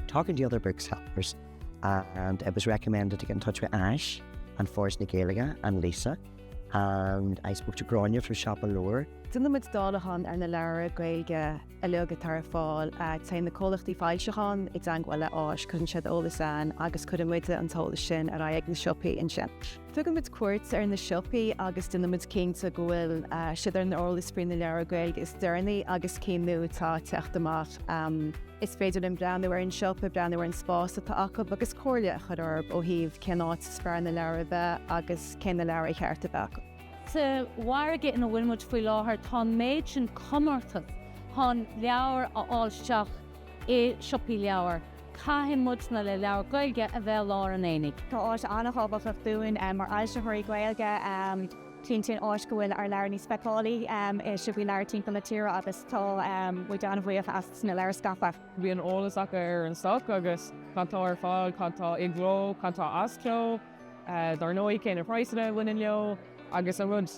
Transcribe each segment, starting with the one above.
Talking to other booksellers and it was recommended to get in touch with Áis and Foras na Gaeilge and Lisa and I spoke to Gráinne from Siopa Leabhar. Déanann muid dáileachán ar na leabhra Gaeilge uilig atá ar fáil. Téann na comhlachtaí foilseacháin i dteagmháil le Áis, cuireann siad eolas againn agus cuireann muide an t-eolas sin ar aghaidh ag na siopaí ansin. Tugann muid cuairt ar na siopaí agus déanann muid cinnte go bhfuil siad ar an eolas faoi na leabhair Gaeilge is deireanaí agus cinn nua atá ag teacht amach. Is féidir linn breathnú ar an siopa, breathnú ar an spás atá acu agus comhairle a chur orthu ó thaobh cén áit is fearr na leabhair a bheith agus cé na leabhair ar cheart a bheith acu. Sa mhargadh ina bhfuil muid faoi láthair, tá an méid sin comórtas chun leabhair a fháil isteach i siopaí leabhar. Caithfidh muidne le leabhar Gaeilge a bheith i lár an aonaigh. Tá Áis an-thábhachtach dúinn mar fhoilsitheoirí Gaeilge cinntíonn Áis go bhfuil ár leabhair níos feiceálaí i siopaí leabhar timpeall na tíre agus tá muid an-bhuíoch as na leabhair a scaipeadh. Bíonn eolas acu ar an stoc agus cad tá ar fáil, cad tá i gcló, cad tá as cló, dar ndóigh cé na praghsanna a bhaineann leo agus an rud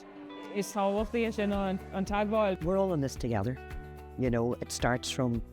is tábhachtaí ansin ná an teagmháil. we're all in this together, you know, it starts from.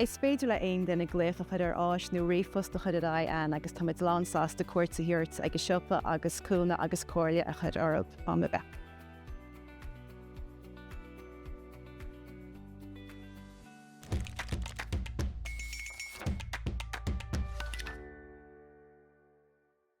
Is féidir le haon duine glaoch a chur ar Áis nó ríomhphost a chur ar aghaidh againn agus tá muid lán sásta cuairt a thabhairt ag an siopa agus cúnamh agus comhairle a chur orthu.